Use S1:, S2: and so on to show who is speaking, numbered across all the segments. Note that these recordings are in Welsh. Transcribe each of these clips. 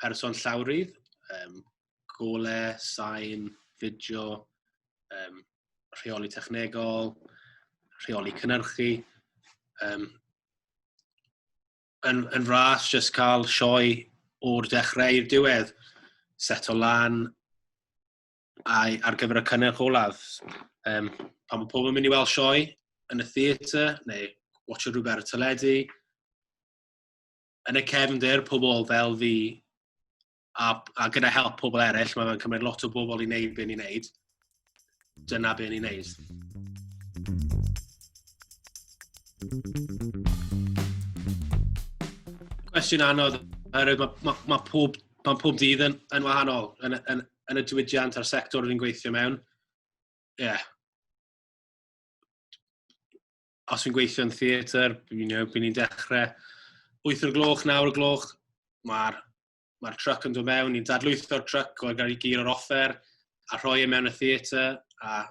S1: person llawrydd, um, gole, sain, fideo, um, rheoli technegol, rheoli cynnyrchu. Um, yn, yn ras, jyst cael sioe o'r dechrau i'r diwedd, set o lan ai, ar gyfer y cynnyrch olaf. Um, pan mae pobl yn mynd i weld sioe yn y theatr, neu watch o rhywbeth ar y teledu, yn y cefndir, pobl fel fi, a, a gyda help pobl eraill, mae'n cymryd lot o bobl i wneud beth ni'n wneud. Dyna beth ni'n wneud. Cwestiwn anodd, oherwydd mae ma, ma pob, ma pob dydd yn, yn wahanol yn, yn, yn y diwydiant a'r sector rydyn gweithio mewn. Ie. Yeah. os fi'n gweithio yn theatr, you know, byd ni'n dechrau 8 o'r gloch, 9 o'r gloch, mae'r ma truck yn dod mewn, ni'n dadlwytho'r truck o'r gael ei gyr o'r offer, a rhoi e mewn y theatr, a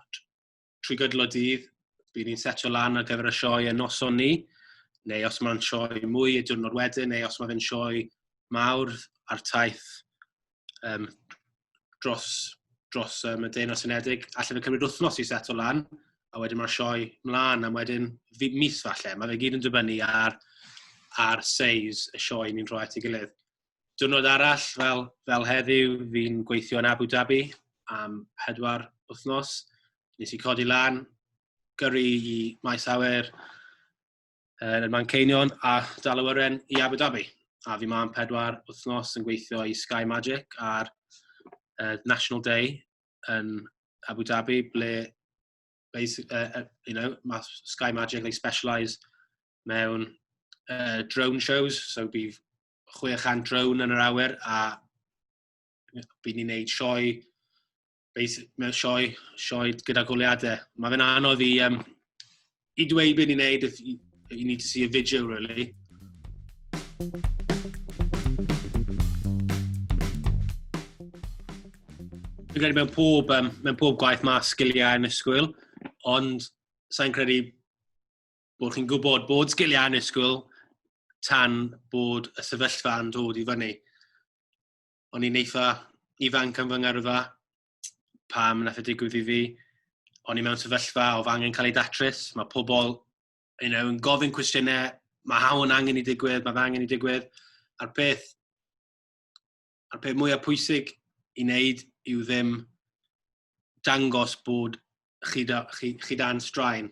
S1: trwy gydl o dydd, byd ni'n setio lan ar gyfer y sioe yn noson ni, neu os mae'n sioe mwy y diwrnod wedyn, neu os mae fe'n sioe mawr ar taith um, dros, dros um, y Deyrnas Unedig. Alla fe cymryd wythnos i set o lan, a wedyn mae'r sioe mlaen, a wedyn mis falle. Mae fe gyd yn dibynnu ar, ar seis y sioe ni'n rhoi at ei gilydd. Dwrnod arall, fel, fel heddiw, fi'n gweithio yn Abu Dhabi am pedwar wythnos. Nes i codi lan, gyrru i maes awyr, yn y Manceinion a dal awyren i Abu Dhabi. A fi ma'n pedwar wythnos yn gweithio i Sky Magic ar uh, National Day yn Abu Dhabi, ble basic, uh, uh, you know, mae Sky Magic, they specialise mewn uh, drone shows, so bydd 600 drone yn yr awyr a bydd ni'n neud sioe basic, mewn sioe, sioe gyda goliadau. Mae fe'n anodd i, um, i dweud beth i'n neud, you need to see a video, really. Dwi'n credu mewn pob, um, mewn pob gwaith mae sgiliau yn ysgwyl, ond sa'n credu bod chi'n gwybod bod sgiliau yn ysgwyl tan bod y sefyllfa yn dod i fyny. o'n i'n eitha ifanc am fy ngyrfa pam nath y e digwydd i fi. O'n i mewn sefyllfa o fy angen cael ei datrys. Mae pobl you know, yn gofyn cwestiynau, mae hawn yn angen i digwydd, mae fe angen i digwydd. A'r peth, a'r peth mwyaf pwysig i wneud yw ddim dangos bod chi, da, chi, chi dan straen,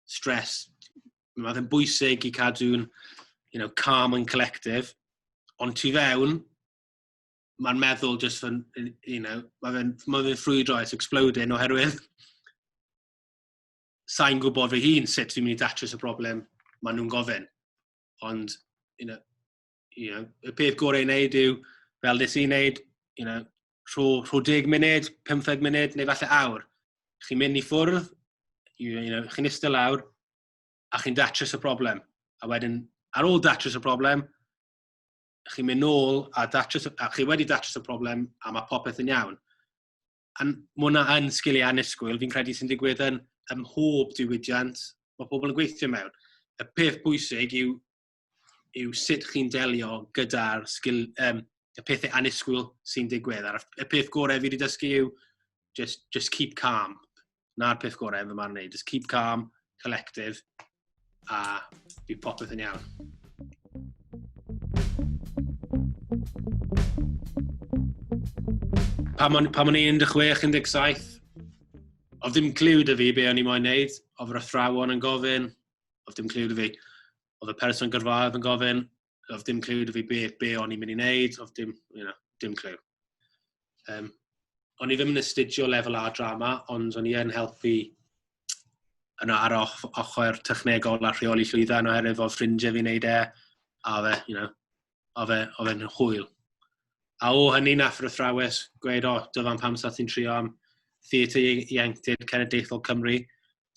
S1: stres. Mae fe'n bwysig i cadw'n you know, calm and collective, ond tu fewn, mae'r meddwl just yn, you know, mae fe'n ma fe ffrwydro, it's exploding oherwydd sa'n gwybod fy hun sut fi'n mynd i datrys y broblem maen nhw'n gofyn. Ond, you know, you know, y peth gorau i wneud yw, fel nes i'n wneud, you know, rho, rho deg munud, 15 munud, neu falle awr. Chi'n mynd i ffwrdd, you, you know, chi'n eistedd lawr, a chi'n datrys y broblem. A wedyn, ar ôl datrys y broblem, chi'n mynd nôl a, datrys, a chi wedi datrys y problem a mae popeth yn iawn. A mae hwnna yn sgiliau anusgwyl, fi'n credu sy'n digwydd yn ymhob diwydiant mae pobl yn gweithio mewn. Y peth bwysig yw yw sut chi'n delio gyda'r sgil, um, y pethau anusgwyl sy'n digwydd. A'r y peth gorau fi wedi dysgu yw just, just keep calm. Na'r peth gorau yn fy marn i. Just keep calm, collective, a bydd popeth yn iawn. Pam o'n, pam o'n i 16, 17, oedd ddim cliw dy fi be o'n i moyn neud, oedd yr athrawon yn gofyn, oedd dim clyw dy fi. Oedd y person gyrfaodd yn gofyn, oedd dim clyw dy fi be, be o'n i'n mynd i wneud, oedd dim, you know, dim clyw. Um, o'n i ddim yn astudio lefel A drama, ond o'n i yn helpu yn ar ochr technegol a rheoli llwyddau yn oherwydd fo ffrindiau fi'n neud e, a fe, you know, a fe, a fe'n hwyl. A o hynny nath yr athrawes gweud, o, dyfan pam sa ti'n trio am theatr ieuenctid cenedlaethol Cymru,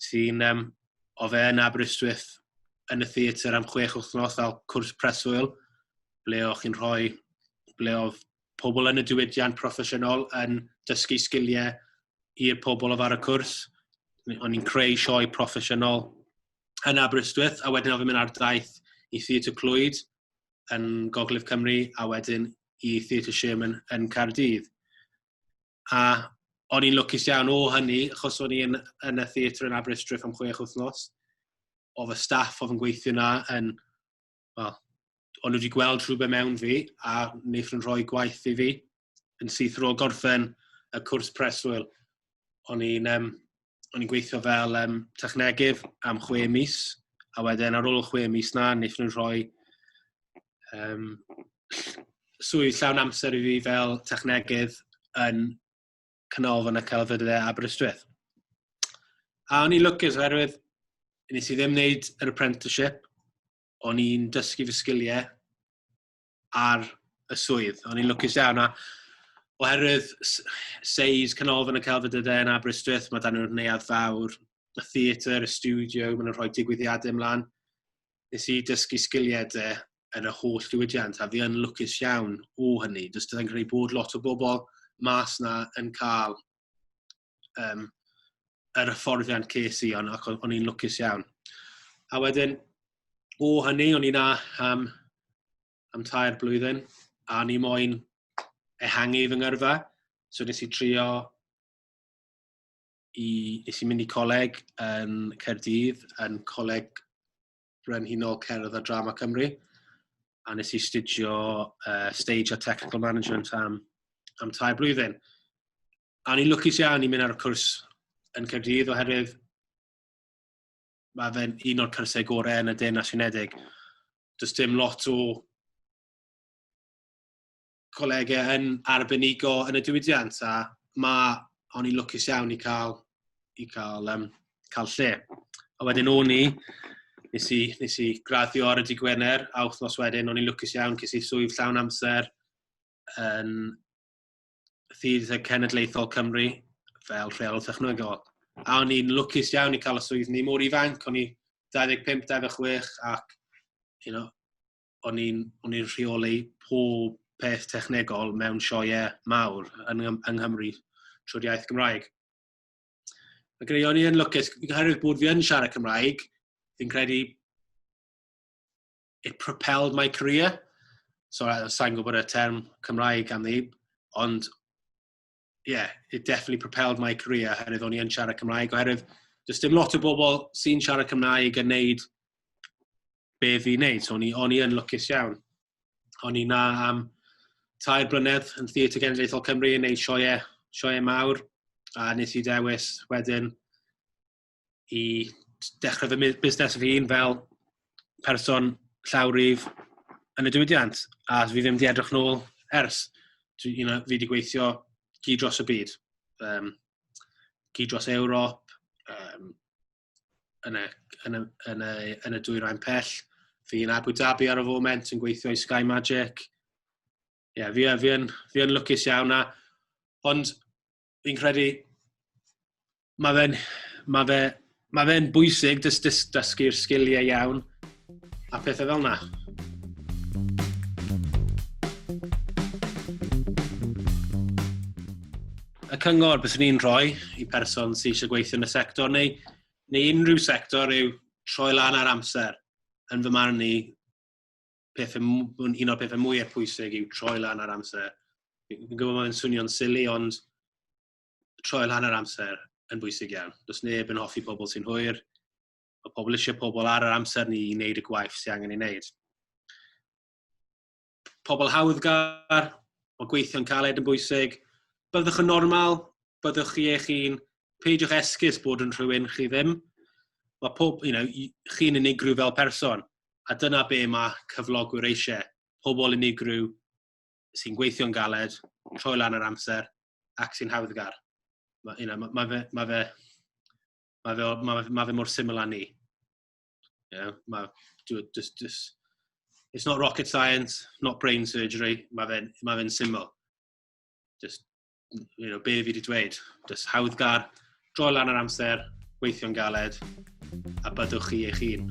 S1: sy'n um, o fe yn Aberystwyth yn y theatr am chwech wythnos fel cwrs preswyl, ble o'ch chi'n rhoi, ble oedd pobl yn y diwydiant proffesiynol yn dysgu sgiliau i'r pobl oedd ar y cwrs. O'n i'n creu sioe proffesiynol yn Aberystwyth, a wedyn oedd yn mynd ar daith i Theatr Clwyd yn Gogledd Cymru, a wedyn i Theatr Sherman yn Cardydd. A o'n i'n lwcus iawn o hynny, achos o'n i'n yn y theatr yn Aberystwyth am chwech wythnos. O fy staff oedd yn gweithio yna yn... Wel, o'n nhw wedi gweld rhywbeth mewn fi, a wnaeth nhw'n rhoi gwaith i fi. Yn syth rôl gorffen y cwrs preswyl, o'n i'n um, o'n i'n gweithio fel um, technegydd am chwe mis, a wedyn ar ôl y chwe mis na, wnaeth nhw'n rhoi um, swydd llawn amser i fi fel technegydd yn Canolfan y Celfyddydau Aberystwyth. A o'n i'n lwcus oherwydd nes i ddim wneud yr apprenticeship, o'n i'n dysgu fy sgiliau, ar y swydd. O'n i'n lwcus iawn, a oherwydd seis canolfan y celfyddydau yn Aberystwyth, mae dan nhw'r neuad fawr, y theatr, y studio, maen nhw'n rhoi digwyddiadau ymlaen. Nes i dysgu sgiliau de yn y holl diwydiant, a fi yn lwcus iawn o hynny. Does dydyn credu bod lot o bobl mas na yn cael um, yr hyfforddiant ces i, ond ac o'n i'n lwcus iawn. A wedyn, o hynny, o'n i na am, am tair blwyddyn, a o'n i moyn ehangu fy ngyrfa. So nes i trio i, nes i mynd i coleg yn Cerdydd, yn coleg Brenhinol Cerdd a Drama Cymru, a nes i studio uh, Stage a Technical Management am, am tair blwyddyn. A ni'n lwcus iawn i mynd ar y cwrs yn Cyrdydd oherwydd mae fe'n un o'r cyrsau gorau yn y Deyrnas Unedig. Does dim lot o colegau yn arbenigo yn y diwydiant a mae o'n i'n lwcus iawn i cael, i cael, um, cael lle. A wedyn o'n i, nes i, nes i graddio ar y di Gwener, a wythnos wedyn o'n i'n lwcus iawn, ces i swydd llawn amser yn Thydd y Cenedlaethol Cymru fel rheol technegol. A o'n i'n lwcus iawn i cael y swydd ni mor ifanc, o'n i 25-26 ac you know, o'n i'n o'n i'n rheoli pob peth technegol mewn sioe mawr yn, yng Nghymru trwy'r iaith Gymraeg. Mae gen i o'n i'n lwcus, oherwydd bod fi yn siarad Cymraeg, fi'n credu it propelled my career. So, sa'n gwybod y term Cymraeg am ni, ond yeah, it definitely propelled my career oherwydd o'n i yn siarad Cymraeg, oherwydd does dim lot o bobl sy'n siarad Cymraeg yn neud be fi wneud, so o'n i, on i yn lwcus iawn. O'n i na am tair blynedd yn Theatr Genedlaethol Cymru yn neud sioe, sioe mawr, a nes i dewis wedyn i dechrau fy busnes fy hun fel person llawryf yn y diwydiant, a fi ddim wedi edrych nôl ers. Dwi, you know, fi wedi gweithio gyd dros y byd. Um, gyd dros Ewrop, um, yn, y, yn, y, yn, y, yn y dwy rhain pell. Fi yn Abu Dhabi ar y foment yn gweithio i Sky Magic. Ie, yeah, fi, fi, yn, fi yn lwcus iawn na. Ond fi'n credu, mae fe'n ma fe, ma fe bwysig dys, dys, dysgu'r sgiliau iawn a pethau fel yna. Y cyngor beth ni'n rhoi i person sy'n eisiau gweithio yn y sector neu, neu unrhyw sector yw troi lan ar amser yn fy marn i peth, un o'r pethau mwyaf pwysig yw troi lan ar amser. Fi'n gwybod mae'n swnio'n sili, ond troi lan ar amser yn bwysig iawn. Does neb yn hoffi pobl sy'n hwyr. Mae pobl eisiau pobl ar yr amser ni i wneud y gwaith sy'n angen ei wneud. Pobl hawddgar, mae gweithio'n caled yn bwysig. Byddwch yn normal, byddwch chi eich hun, peidiwch esgus bod yn rhywun chi ddim. Mae pob, you know, chi'n unigryw fel person. a dyna be mae cyflogwyr eisiau, pobl unigryw sy'n gweithio'n galed, troi lan yr amser, ac sy'n hawddgar. Mae you know, ma, ma fe, ma fe, ma fe, ma fe, ma fe mor syml â ni. You know, ma, do, just, just, it's not rocket science, not brain surgery, mae fe'n ma fe syml. Just you know, be fi wedi dweud. Just hawddgar, droi lan yr amser, gweithio'n galed, a byddwch chi eich hun.